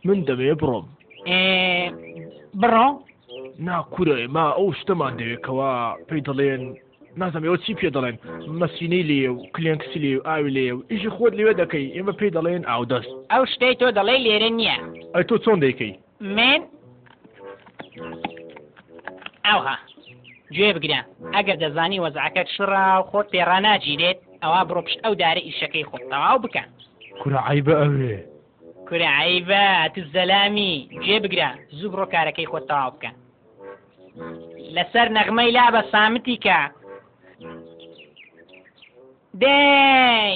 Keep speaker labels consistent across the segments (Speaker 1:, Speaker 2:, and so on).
Speaker 1: من دەمەوێ بڕۆم بڕۆ ناکوورە ئێمە ئەو شتەمان دەوێتەوە پێی دەڵێن نازم ئێوە چی پێ دەڵێن مەسینەی لێ و کلێنکسی لێ و ئاوی لێ و ئیشی خۆت لێوێ دەکەی ئێمە پێی دەڵێن ئاودەست ئەو شتەی تۆ دەڵێ لێرە نییە ئەی تۆ چۆن دەیکەی من ئەوها گوێ بگرە ئەگەر دەزانی وەزعەکەت شڕا و خۆت پێڕاناگیرێت ئەوە بڕۆ پشت ئەو دارە ئیشەکەی خۆت تەواو بکە کورە عیبە ئەوێ کورە عیبە تو زەلامی گوێ بگرە زوو بڕۆ کارەکەی خۆت تەواو بکە لەسەر نەغمەی لا بە سامتی کە دەی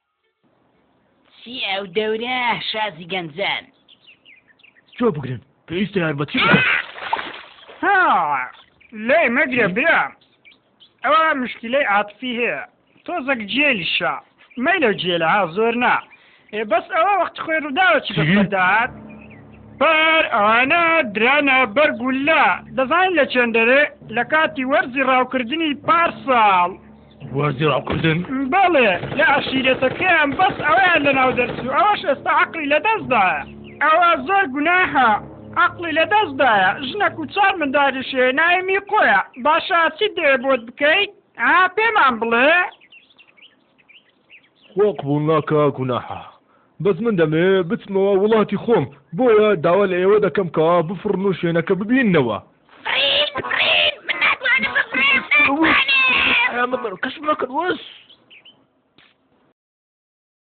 Speaker 1: چی ئەو دەورە شازی گەنجان جۆ بگرن پێویستە یارمەتی بدەن ها لای مەگرە برا ئەوە مشکلەی عاتفی هەیە تۆزەک جێلیشە مەیلە و جێلە ها زۆر نا ئێ بەس ئەوە وەخت خۆی ڕووداوە چی چی؟ بەسەردات بار ئەوانە درانە بەر گولە دەزانین لە چێندەرێ لە کاتی وەرزی ڕاوکردنی پارساڵ وازی ڕاوکردن بەڵێ لە عشیرەتەکەیان بەس ئەویان لە ناو دەرچوو ئەوەش ئێستا عقلی لە دەستدایە ئەوە زۆر گوناهە عقلی لە دەستدایە ژنەک و چار منداریشێ نایمی قۆیە باشە چی دەیە بۆت بکەیت ئا پێمان بڵێ خوا قبوڵ ناکا گوناحە. بەس من دەمەوێ بچمەوە وڵاتی خۆم بۆیە داوا لە ئێوە دەکەم کە بفڕن و شوێنەکە ببیننەوە. فڕین بفڕین من ناتوانم بفڕێم ناتوانێم. ئەرام بە بەرکەش مەکەن وەس.